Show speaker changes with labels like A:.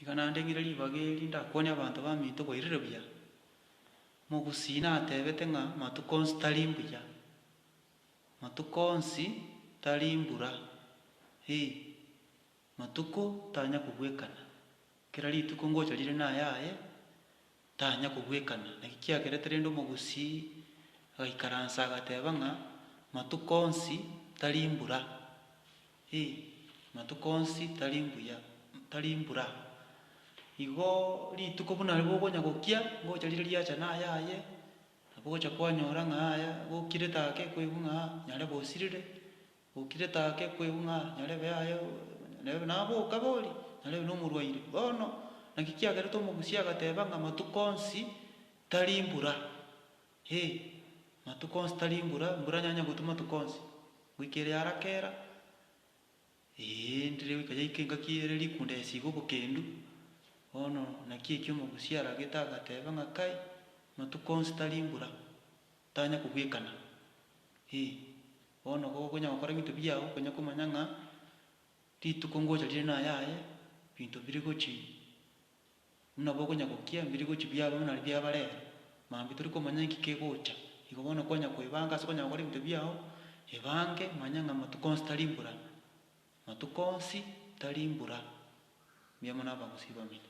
A: Tiga naende ng'ire ribaga eri ndakwonie abanto baminto bairire buya. Mogusii natebete ng'a matuko onsi tari mbuya. Matuko onsi tari mbura, ee, matuko tanya kobwekana. Kera rituko ngocha rire nayaye, tanya kobwekana. Naki kiagerete rende omogusii agaikaransa agateba ng'a matuko onsi tari mbura. Hi, amatuko onsi tari mbuya, tari mbura. Igo rituko buna riria bokonya gokia, ngocha riria riacha naya aye, nabo ogocha kwanyora ng'a aya gokire take kweigwa ng'a nyarebe osirire, gokire take kweigwa ng'a nyarebe aye nyarebe nabe okabe oria, nyarebe nomorwaire. Bono naki kiagerete omogusia agateba ng'a amatuko onsi tari mbura. He! Matuko onsi tari imbura, imbura nyanya gotu matuko onsi, goika ere yarakera, ee, ndire goika yaika engaki ere rikunda yasiga obokendu. Bono naki eki omogusia aragete agateba ng'a kai, matuko onsi tari imbura, tanya kobwekana. Ee, bono igo okonya gokora ebinto biao okonya komanya ng'a rituko ngocha rire nayaye, binto bire gochi. Buna bokonyagokia ebirigochio biabo buna bia bare ere, mambia tori komanya inki kegocha. Igo bono kwanya koebanga ase okonyara gokora ebinto biao, ebange manya ng'a amatuko onsi tari mbura. Amatuko onsi tari mbura. Mbuya mono abagusii bamino.